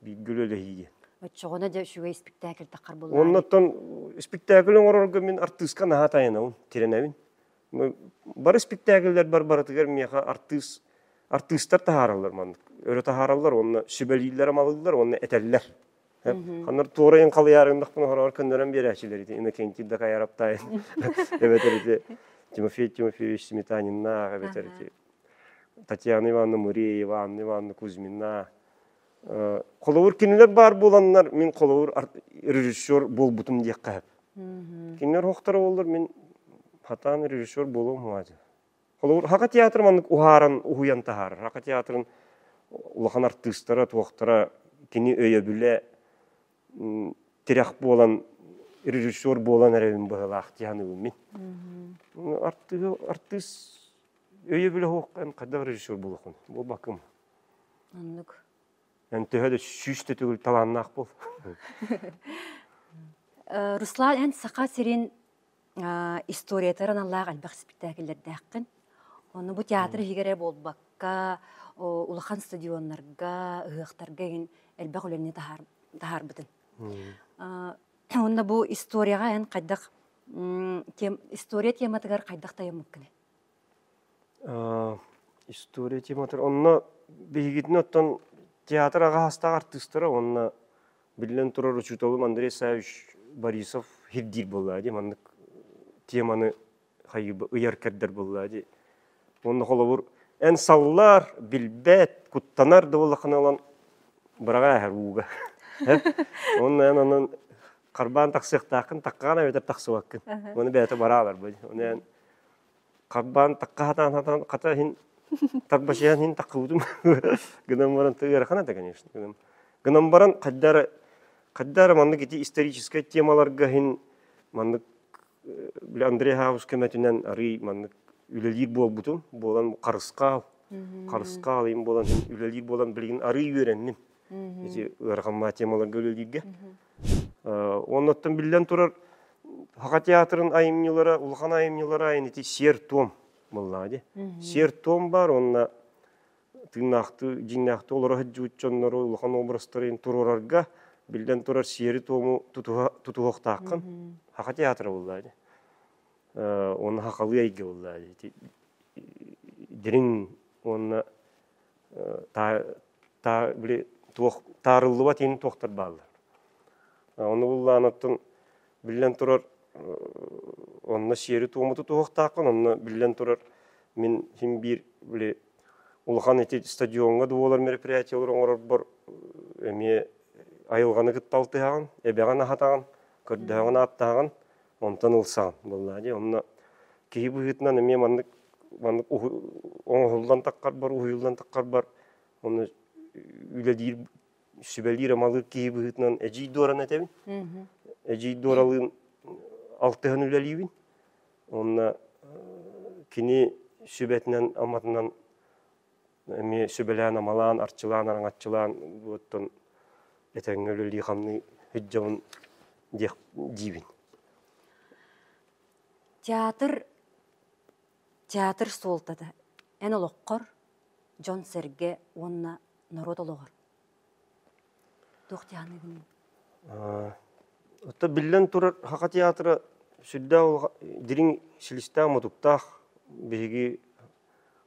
Бииргэ үлэлэһии диэн. Оччоҕуна дьэ үчүгэй спектакль таххар буллаа. Оннуттан спектакль оҥорорго мин артыыска наһаа тайанабын, тирэнэбин. Бары спектакльлэр бар барытыгар миэхэ артыыс артыыстар таһаараллар маннык. Өрө таһаараллар уонна сүбэлииллэр амалыыллар уонна этэллэр. Ханар туорайын халыйарын бахпын хорор көннөрөн биэрээчилер ити Иннокентий да каяраптайын эбэтэр ити Тимофей Тимофеевич Сметанинна эбэтэр ити Татьяна Ивановна Муреева Анна Ивановна Кузьмина холобур кинилер баар буоланнар мин холобур режиссер буолбутум диэххэ кинилер хохтора боллар мин хатаан режиссер буолуом Холобур, Хака театр маннык уһааран, уһуйан таһаарар. Хака театрын улахан артыыстара, туохтара кини өйөбүлэ тирэх буолан режиссер буолан эрэбин быһылаах тиһаныыбын мин. Артыыс өйөбүлэ хоһхан хайда бар режиссер булуқын булбакым оннук эн төһө да сүүс да түгүл талааннаах бол э, руслан эн саха сирин историятыгар аналлаах элбэх испиктээкиллэрдээххин. Ону бу театр иһигэр эрэ буолбакка, улахан стадионнарга, ыһыахтарга игин элбэх үлэни таһаарбытын. Уонна бу историяҕа эн хайдах история тематыгар хайдах тайаммыккыный? история тематар онно биһигитин оттон театр аҕаһастаах артыыстара уонна биллэн турар учууталым Андрей Савич Борисов хирдиир буоллаа дии маннык теманы хайыба ыйар кэрдэр буоллаа дии уонна холобур эн саллаар билбэт куттанар да буоллаххына ылан быраҕа эһэр ууга уонна эн анан харбаан тахсыахтааххын таккаан эбэтэр тахсыбаккын уону бэйэтэ бараалар бу оны эн Харбаан такка хатаан хатаан хата иһин тарбачыйан иһин таккыбытым гынан баран ыарахана да конечно гынам гынан баран хайда эрэ хайда эрэ маннык ити историческай темаларга иһин маннык били Андрей Хаус көмөтүнэн арыый маннык үлэлиир буолбутум буолан харысхаал харысхаал буолан иһин үлэлиир буолан билигин арыый үөрэнним ити ыараханма темаларга үлэлииргэ. Оннуттан биллэн турар, Хаха театрын айымньылара, улахан айымньылара айын ити сиэр-туом буллаҕа ди. Сиэр-туом баар уонна тыыннаахтыы, дьиҥнээхтүү олоро сылдьыбыт дьоннору, улахан образтарын туруорарга биллэн турар сиэри-туому тутуһуохтааххын. Хаха театра буллаҕа ди. Уонна Хахалыы эйгэ буллаҕа ди. Дириҥ уонна таа били туох таарыллыбат иини туохтар бааллар ону буллаан оттон биллэн турар онно сиэри-туому тутуһуохтааххын онно биллэн турар мин син биир били улахан эти стадиоҥҥа да буолар мероприятиялары оҥорорбор эмиэ айылҕаны кытта алтыһаҕын эбэҕин аһатаҕын көрдөһөҕүн ааттааҕын Онтон ылсаҕын буоллаҕа дии. Онно киһи быһыытынан эмиэ маннык маннык оҥоһуллан таххарбар, уһуйуллан таххарбар онно үлэлиир сүбэлиир амалыыр киһи быһыытынан эдьиий Дуоран этэбин. Эдьиий Дуоралыын алтыһан үлэлиибин. Онно кини сүбэтинэн аматынан эмиэ сүбэлээн-амалаан, арчылаан, араҥаччылаан буоттан этэҥҥэ үлэлии хамныы сылдьабын диэх диибин. Театр театр суолтата эн олоххор, дьон-сэргэ уонна норуот олоҕор Оттон биллэн турар, Саха театра сүрдээх дириҥ силистээх-мутуктаах. Биһиги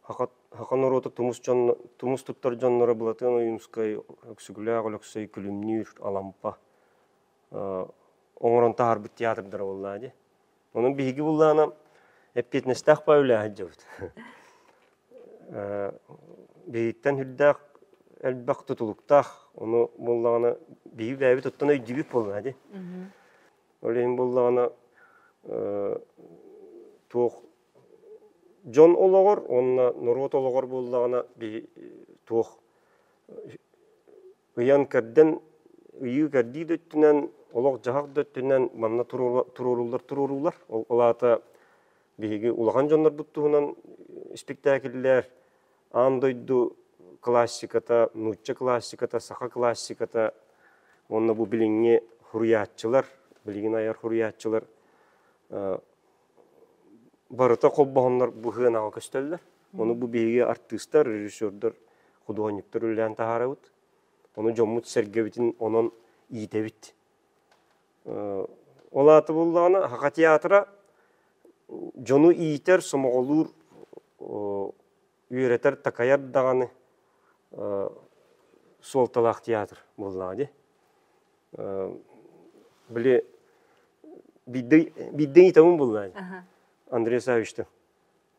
саха норуота тумус дьонно тумус туттар дьонноро Былатыан Ойуунускай, Өксүгүлээх Өлөксөй Күлүмнүүр, Алампа оҥорон таһаарбыт театрдара буоллаа дии. Онон биһиги буллаана эппиэтинэстээх баа үлэ сылдьабыт. Биһигиттэн үрдээх элбэх тутулуктаах, ону буллаҕына биһиги бэйэбит оттон өйдүүбүт буолла ди. Ол иһин буллаҕына туох дьон олоҕор уонна норуот олоҕор буллаҕына туох ыйан-кэрдэн ыйыы-кэрдии да өттүнэн, олох-дьаһах да өттүнэн манна туруорууллар-туруоруулар. Ол аата биһиги улахан дьоннорбут туһунан испиктээкиллэр, аан дойду классиката, нуучча классиката, саха классиката уонна бу билиҥҥи хуруйааччылар, билигин айар хуруйааччылар барыта холбоһоннор быһыанаҕа көстөллөр. Ону бу биһиги артыыстар, режиссердар, худуоһунньуктар үлэлээн таһаарабыт. Ону дьоммут-сэргэбитин онон иитэбит. Ол аата буллаҕына, Аха театра дьону иитэр, сомоҕолуур үөрэтэр, такайар даҕаны суолталаах театр буоллаҕа дии. Били биирдэ ыйытамын буллаай Андрей Савичтан.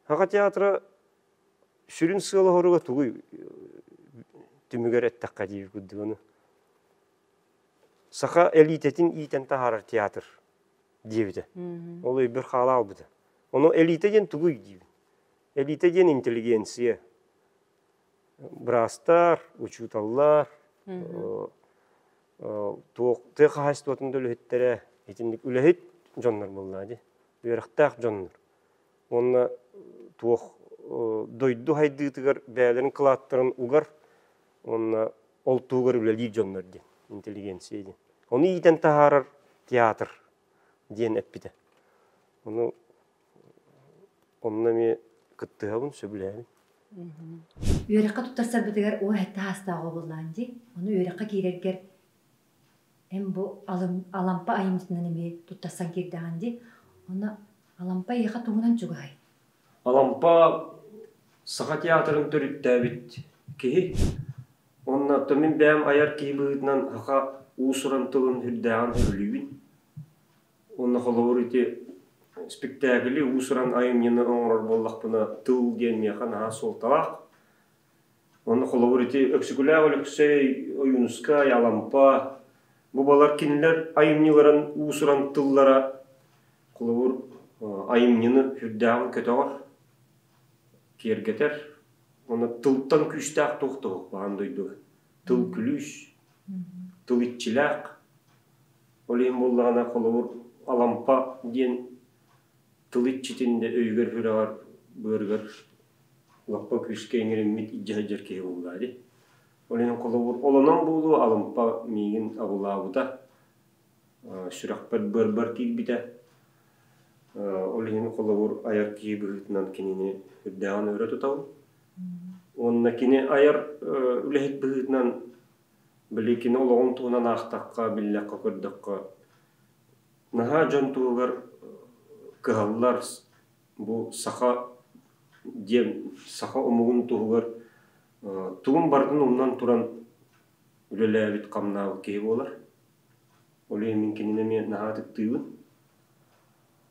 Хаха театра сүрүн сыала-хоруга тугуй түмүгэр эттэххэ диир курдук ону. Саха элитэтин иитэн таһаарар театр диэбитэ. Ол өйбөр хаала албыта. Ону элитэ диэн тугуй диибин. Элитэ диэн интеллигенция. Быраастар, учууталлар, туох тыа хаһаайыстыбатын да үлэһиттэрэ итинник үлэһит дьоннор буллаа дии. Үөрэхтээх дьоннор. Уонна туох дойду хайдыытыгар бэйэлэрин кылааттарын угар уонна ол тугар үлэлиир дьоннор диэн интеллигенция диэн. Ону иитэн таһаарар театр диэн эппитэ. Ону Онно эмиэ кыттыһабын, сөбүлээбин. Үөрэххэ туттарсарбытыгар уу эттэ саастаах оҕоллоон дии. Ону үөрэххэ киирэргэр эн бу Алампа айымньытынан эмиэ туттарсан киирдэҕин дии. Онно Алампа эйиэхэ тугунан чугаһай? Алампа Саха театрын төрүттээбит киһи. Оннооттон мин бэйэм айар киһи быһыытынан саха уус-уран тылын үрдээҕин сөбүлүүбүн. Уонна холобур ити спектакли уус-уран айымньыны оҥорор буоллахпына тыл диэн миэхэ наһаа суолталаах. Уонна холобур ити Өксүкүлээх Өлөксөй, Ойуунускай, Алампа бу балар кинилэр айымньыларын уус-уран тыллара холобур айымньыны сүрдээҕин көтөҕөр, киэргэтэр. Уонна тылтан күүстээх туох да баҕан дойду тыл күлүүс, тыл иччилээх Ол иһин буоллаҕына, холобур, Алампа диэн тыл иччитин да өйүгэр-сүрэҕэр, быарыгар лаппа күүскэ иҥэриммит илдьэ сылдьар киһи буоллаҕа дии. Ол иһин холобур, олонон буолуо, Алампа миигин абылаабыта, сүрэхпэр, быарбар киирбитэ. Ол иһин холобур, айар киһи быһыытынан кинини үрдээҕин өрө тутабын. Уонна кини айар үлэһит быһыытынан Били кини олоҕун туһунан аахтахха, биллэххэ-көрдөххө наһаа дьон туһугар кыһаллар. Бу саха диэн саха омугун туһугар тугун барытын умнан туран үлэлээбит хамнаабыт киһи буолар. Ол иһин мин кинини эмиэ наһаа ытыктыыбын.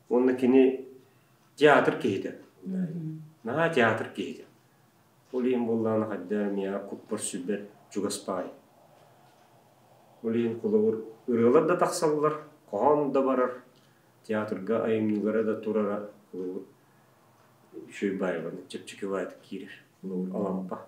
Уонна кини театр киһитэ. Наһаа театр киһитэ. Ол иһин буоллаҕына хайда миэхэ куппар-сүбэр чугас баай. Ол иһин холобур ырыалар да тахсаллар, хоһоон да барар, театрга айымньылара да турара холобур үчүгэй баайбаны чэпчэки баайдык киирэр. Холобур Алампа.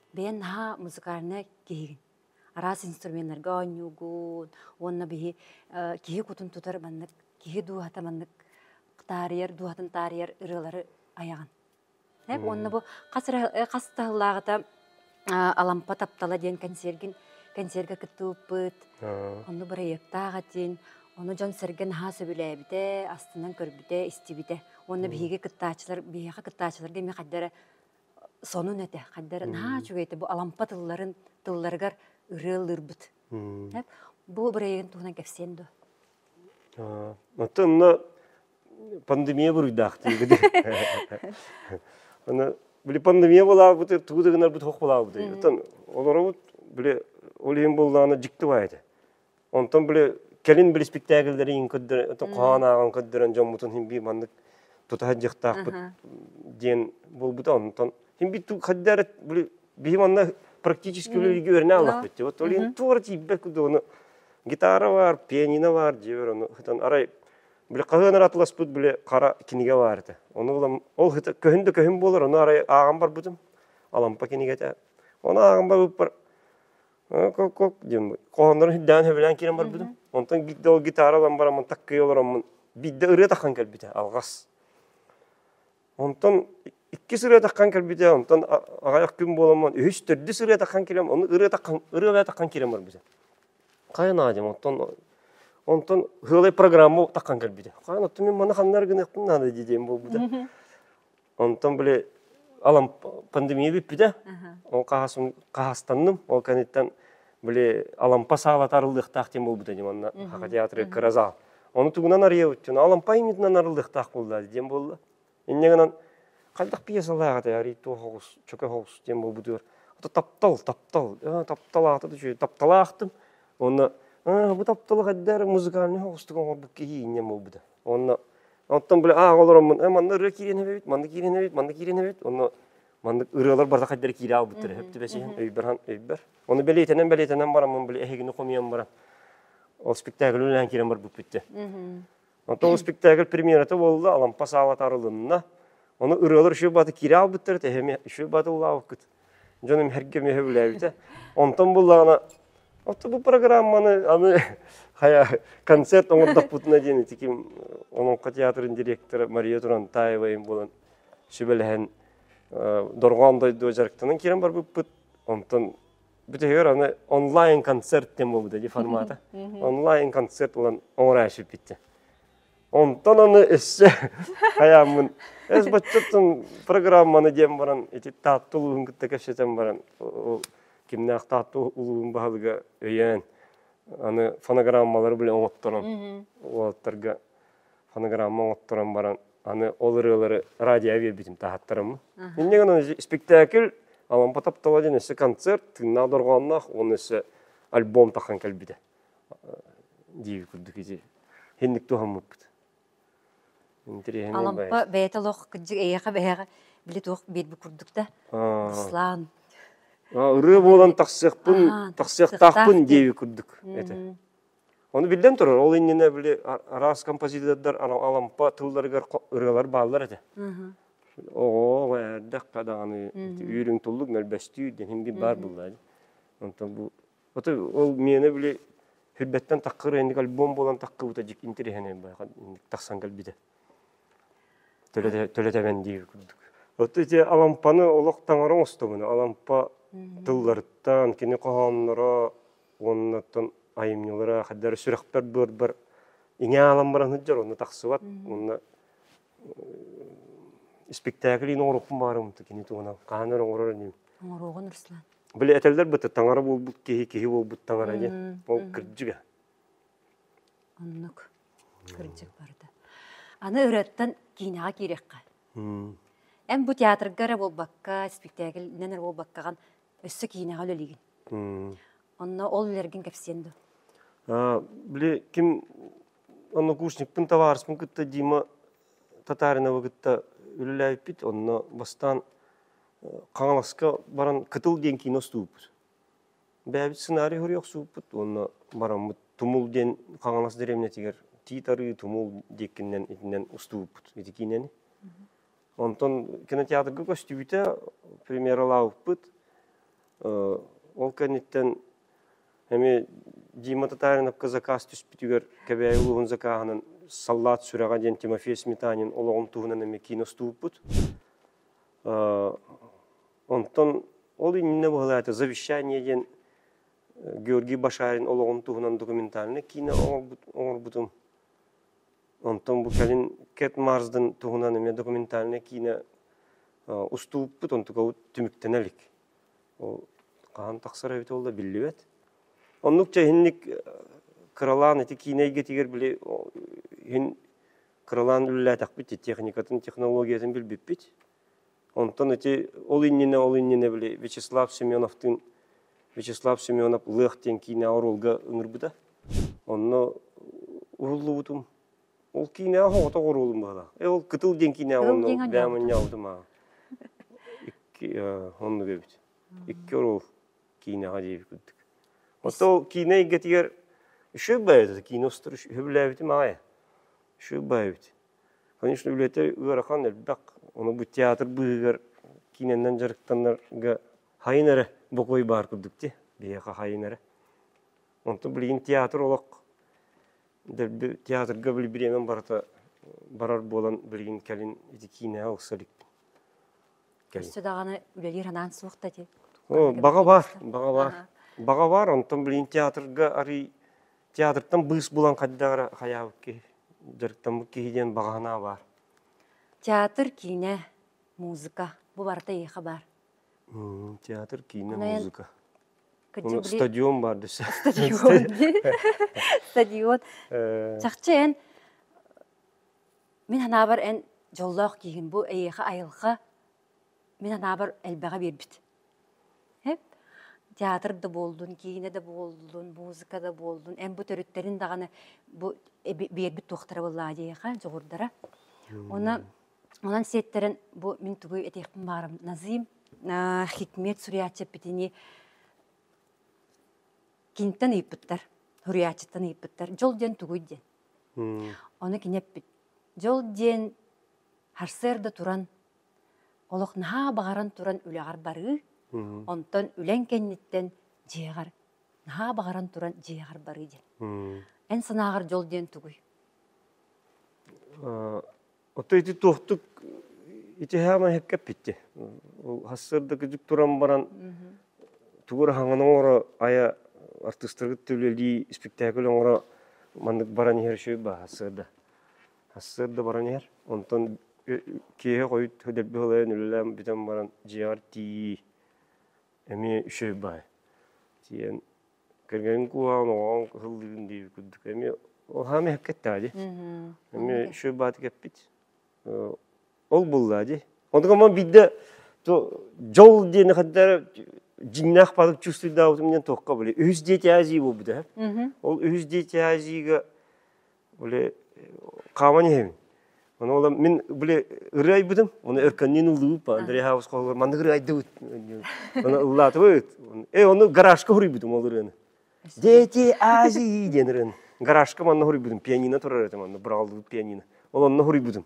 Бэйэн наһаа музыкальнай киһигин. Араас инструменнарга оонньуугун уонна биһи киһи кутун тутар маннык киһи дууһата маннык таарыйар дууһатын таарыйар ырыалары айаҕын. Уонна бу хас эрэ хас таһыллааҕыта Алампа таптала диэн кэнсиэргин кэнсиэргэ кыттыбыппыт. Онно бырайыактаах этин. Ону дьон-сэргэ наһаа сөбүлээбитэ, астынан көрбүтэ, истибитэ. Уонна биһиги кыттааччылар биһиэхэ кыттааччыларга эмиэ хайда эрэ сонун этэ хайдары наһаа үчүгэй этэ бу алампа тылларын тылларыгар ырыа ыллыырбыт бу бырайыгын туһунан кэпсиэн дуо оттон онно пандемия буруйдаахтыыгыт аны били пандемия булаабыты тугу да гынарбыт хох булаабыт оттон олоробут били ол иһин буллаана дьикти бай этэ Онтон били кэлин били спектакльлэрин хоһоон ааҕан көрдөрөн дьоммутун химби маннык тута дьыхтаахпыт диэн буолбута онтон химби хаддары били бихим анна практически үлэлиги өрне аллахпыт вот олин туора тиипбек кудону гитара бар пианино бар дьибер ону хытан арай били хаһыан аратыласпыт били хара киниге бар это ону улам ол хыта көһүн да көһүн болар ону арай ааҕан барбытым алампа кинигете оны ааҕан барыппар кок-кок диэн хоһооннорун сирдээн сөбүлээн киирэн барбытым. Онтон биирдэ ол гитара ылан бараммын таккыы олороммун биирдэ ырыа таххан кэлбитэ алҕас. Онтон иккис ырыа таххан кэлбитэ, онтон аҕайах күн буоламмын үһүс төрдүс ырыа таххан кэлем, оны ырыа таххан ырыа бая таххан киирэн барбыта. Хайа наадым, оттон онтон хыалай программа таххан кэлбитэ. Хайа оттон мен маны ханнар гыныахпын наада диэм буолбута. Онтон били алам пандемия бүппүтэ. Ол хаһастанным. Ол кэнниттэн били Алампа саала тарыллыахтаах диэн буолбута дим онна Хака театры кыразал. Оны тугунан арыйабыттын Алампа имитинен арыллыахтаах буолла диэн буолла. Иннегенен кайдах пьесалаах это арый то хоус чөкө хоус диэн буолбутугар ата таптал таптал таптал аата түчү тапталаахтым онна бу тапталах эддер музыкальный хоустук оңорбут киһи иннен буолбута онна Оттон били аа олороммун манна ырыа киирэн эбэбит, манна киирэн эбэбит, манна киирэн эбэбит. Онно маннык ырыалар барда хайдары киирэ албыттар эһэп түбэсиһэн өйбөр хан өйбөр. Оны бэлиэтэнэн бэлиэтэнэн бараммын били эһигини хомуйан баран ол спектакль үлэһэн киирэн барбыт бүтте. Онтон ол спектакль премьерата болла, Алампа саала тарылынна. Оны ырыалар үшү баты кире албыттар, тэһеми үшү баты улаабыккыт. Дьонум эргэ меһе үлээбитэ. Онтон буллаҕына отто бу программаны аны хая концерт оҥордохпутуна диэн ити ким Олоҥхо театрын директора Мария Турантаева им булан сүбэлэһэн дорҕоон дойду дьарыктанан киирэн барбыппыт. Онтон бүтүһүгэр аны онлайн концерт диэн буолбута ди формата. Онлайн концерт булан оҥоро сүппүттэ. Онтон аны өссө хайааммын эс баччаттан программаны диэн баран ити Таатта улууһун кытта кэпсэтэн баран ол кимнээх Таатта улууһун баһылыга өйөөн аны фонограммалары билэн оҥотторон уолаттарга фонограмма оҥотторон баран аны ол ырыалары радиоҕа биэрбитим таһаттарыммын инньэ гынан испиктээкил Алампа таптала диэн өссө концерт тыыннаах дорҕоонноох уонна өссө альбом таххан кэлбитэ диир курдук ити инник туһаммыппыт Алампа бэйэтэ олох кырдьык эйиэхэ бэйэҕэ били туох биэрбит курдук да ислаан ырыа буолан тахсыахпын тахсыахтаахпын диэбит курдук этэ ону биллэн турар ол иннинэ били араас композитордар алампа тылларыгар ырыалар бааллар этэ оҕо эрдэххэ даҕаны үүрүҥ туллук мөлбөстүү диэн баар булла онтон бу Ото ол миэнэ били Хүлбэттэн тахкыр инник альбом буолан тахкыбыта дик интириһэнэ тахсан кэлбитэ. Төлөтөбөн диир курдук. Оту ити Алампаны олох таҥара оҥостобуна Алампа тылларыттан кини хоһоонноро уоннаттан айымньылара хайдар сүрэхпэр быарбар иҥэ аламбаран сыддьар онно тахсыбат уонна испиктээкил ин оҥорохпун баарым кини туһунан хаһан эрэ оҥорор иним оҥоруоҕун Руслан били этэллэр быты таҥара буолбут киһи киһи буолбут таҥара диэн ол кырдьыга оннук кырдьык барда аны ырыаттан киинэҕэ киириэххэ эн бу театрга эрэ буолбакка испиктээкилинэн эрэ буолбаккаҕын өссө киинэҕэ үлэлиигин онно ол үлэргин кэпсиэн дуо били ким Однокурсникпын, табаарыспын кытта Дима Татариновы кытта үлэлээбиппит. Онно бастаан Хаҥаласка баран Кытыл диэн кино устууппут. Бэйэбит сценарий хоруй охсууппут уонна бараммыт Тумул диэн Хаҥалас дэриэбинэтигэр Тиит Арыы Тумул диэккиннэн итинэн устууппут ити киинэни. Онтон кинотеатрга көстүбүтэ, премьералаабыппыт. Ол кэнниттэн эмиэ Дима Татариновка заказ түспүтүгэр Кэбээйи улууһун закааһынан «Саллаат сүрэҕэ» диэн Тимофей Сметанин олоҕум туһунан эмиэ киностууппут. Онтон ол иннинэ быһылаата «Завещание» диэн Георгий Башарин олоҕун туһунан документальнай киинэ оҥорбутум. Онтон бу кэлин Кэт Марсден туһунан эмиэ документальнай киинэ устууппут, онтукабыт түмүктэнэ илик. Ол хаһан тахсар эбит ол да биллибэт. Оннук чэ иһинник кыралаан ити киинэ эйгэтигэр били иһин кыралаан үлэлээтэхпит, техникатын, технологиятын билбиппит. Онтон ити ол иннинэ ол иннинэ били Вячеслав Семеновтыын Вячеслав Семенов Лыах диэн киинэ оруолга ыҥырбыта. Онно уһуллубутум. Ол киинэ оҕотох оруолум баара. Э ол Кытыл диэн киинэ онно бэйэм анньаабытым аа. Икки оннук эбит. Икки оруол киинэҕэ диэбит курдук. Оттон ол киинэ эйгэтигэр үшүө баайбыт кино устар үһү билээбитим аайы. Үшүө баайбыт. Конечно, үлэтэ ыарахан элбэх. Ону бу театр быыһыгар киинэннэн дьарыктанарга хайын эрэ бокуой баар курдук ти, биһиэхэ хайын эрэ. Онтон билигин театр олох дэлби театрга били бириэмэм барыта барар буолан билигин кэлин ити киинэҕэ ылса иликпин. Кэлин. Өссө даҕаны үлэлиир анаан суох да ти? Оо, баҕа баар, баҕа баар. Баҕа баар, онтон билигин театрга арый Театртан быыс булан хайдаҕа хайаабыт киһи, дьарыктаммыт киһи диэн баҕаһынаа баар. Театр, киинэ, музыка, бу барыта эйиэхэ баар. Театр, киинэ, музыка. Стадион бар десе. Стадион. Стадион. Чахчы эн мин ханаабар эн дьоллоох киһин бу эйиэхэ айылҕа Мин анаабар элбэҕи биэрбит. Эп театр да буоллун, киинэ да буоллун, музыка да буоллун, эн бу төрүттэрин даҕаны бу эби биэрбит туохтара буоллаа диэхэ дьоҕурдара. Онон онон сиэттэрэн бу мин тугу этиэхпин баарым назыйм аа хикмет суруйааччыппитини киниттэн ыйыппыттар, суруйааччыттан ыйыппыттар дьол диэн тугуй диэн. Ону кини эппит: дьол диэн Сарсыарда туран, олох наһаа баҕаран туран үлэҕэр барыы, онтон үлэҥ кэнниттэн дьиэҕэр наһаа баҕаран туран дьиэҕэр барыы диэн. Эн санааҕар дьол диэн тугуй? Отой ити туохтук итиһээмэ эппитти. Сарсыарда кыдьык туран баран тугу хаҥаны оҥоро айа артыыстаргыт үлэлии испиктээкил оҥоро маннык баран иһэр үчүгэй баа сырда. Сарсыарда баран иһэр, онтон киэһэ хойут дэлби халайан үлэлээн бүтэн баран дьиэҕэр тиий эмиэ үчүгэй баай. Тиийэн кэргэнин кууһаҕын оҕоҕун кыһыллыын дии курдук эмиэ ол хаама иһэккэттаа дии. Эмиэ үчүгэй бааты кэппит. Ол буллаа дии. Онтукам ман биирдэ дьол диэни хантара дьиҥнээх баатык чувствуйдаабытым диэн туохха билэ үһүс дети азии буолбута. Ол үһүс дети азиига Оле хаван иһим. Ону олам мин биле ыры айбытым, оны өркөннүн ылыбыппа. Андрей Хавус холгор манны ыры айдыбыт. Оны ыллаатыбыт. Э оны гаражка хуруйбутум ол ырыны. Дети Азии диэн ырыны. Гаражка манна хуруйбутум. Пианино турар этим анна. Бұралдыбыт пианино. Ол онно хуруйбутум.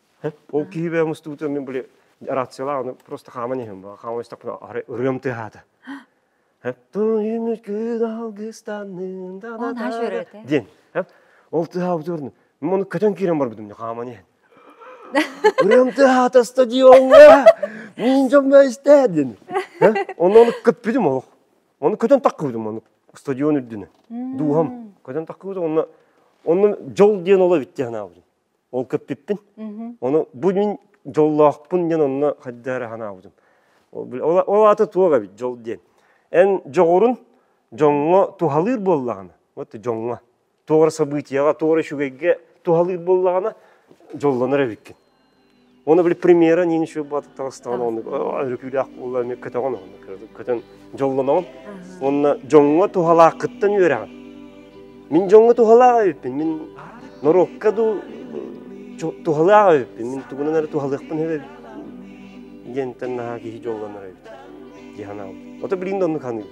Ол киһи бэйэ мустубутун мин были рациялаах аны просто хааман иһим хааман истэхпинэ арай ырыам тыаһаата Эптуйым күн алгыстанным Онаа шөрөтө. диэн ол тыаһаабыт орнун мен оны көтөн киирэн барбытым дэ хааман иһэн ырыам тыаһаата стадиоҥҥа мин дьоммо истээ диэн онно оны көппүтүм олох оны көтөн таккыбытым оны стадион үрдүнө дууһам көтөн таккыбыт онно онно дьол диэн оло битти санаабытым Ол көппүппүн. Оны бу мин дьоллоохпун диэн онно хайда эрэ ханаабытым. Ол аты туох эбит дьол диэн. Эн дьоҕурун дьоҥҥо туһалыыр буоллаҕына, вот дьоҥҥо, тоғра событияға, тоғра үчүгэйге туһалыыр буоллаҕына, дьоллонор эбиккин. Оны били премьера не ничего баатыктаҕастаҕын оннук өрүкүүлээх буолла эмиэ көтөҕөн көтөн дьоллоноҕун уонна дьоҥҥо туһалаах кыттан үөрэҕин мин дьоҥҥо туһалаах эбиппин мин норуокка дуу туһалаах эбиппин мин тугунан эрэ туһалыахпын эбэбин диэнтэн наһаа киһи дьоллонор эбит дии санаабытым ото билигин да оннук ханыыбын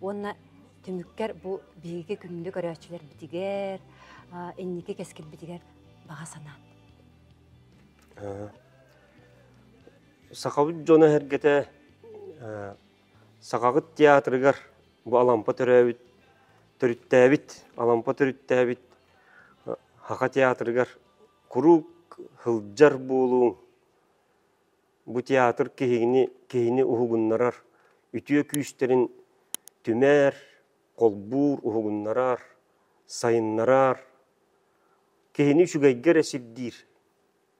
Уонна түмүккэр бу биһиги күннү көрөөччүлэрбитигэр, инники кэскилбитигэр баҕа санаан. Сахабыт дьоно эһэргэтэ Сахабыт театрыгар бу Алампа төрөөбүт төрүттээбит Алампа төрүттээбит Хаха театрыгар куруук сылдьар буолуоҥ бу театр киһини, киһини уһугуннарар, үтүө күүстэрин түмэр, холбуур, уһугуннарар, сайыннарар, киһини үчүгэйгэ эрэ сирдиир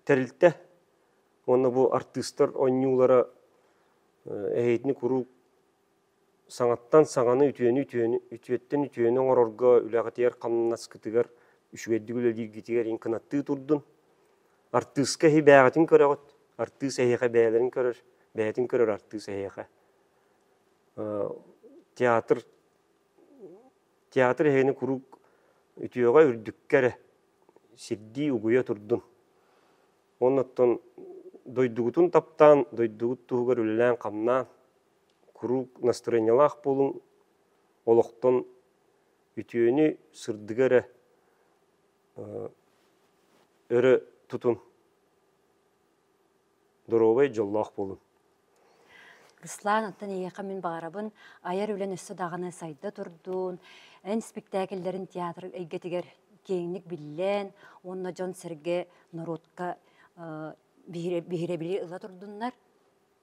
тэрилтэ уонна бу артыыстар оонньуулара эһиитини куруук Саҥаттан саҥаны үтүөнү үтүөттэн үтүөнү оҥорорго үлэҕитигэр-хамнаскытыгар үчүгэйдик үлэлииргитигэр иҥ кынаттыы турдун. Артыыска эһиэхин көрөҕүт, артыыс эһиэхэ бэйэлэрин көрөр, бэйэтин көрөр артыыс эһиэхэ. театр театр эһигини куруук үтүөҕэ, үрдүккэ эрэ сирдии, угуйа турдун. Уонна оттон дойдугутун таптаан, дойдугут туһугар үлэлээн-хамнаан, куруук настроениелаах буолуҥ, олохтон үтүөнү сырдыга эрэ өрө тутун, доруобай дьоллоох буолун. Руслан, оттон эйиэхэ мин баҕарабын айар үлэн өссө даҕаны сайда турдун, эн спектакльлэрин театр эйгэтигэр киэҥник биллэн, уонна дьон-сэргэ, норуотка биһирэбили ыла турдуннар.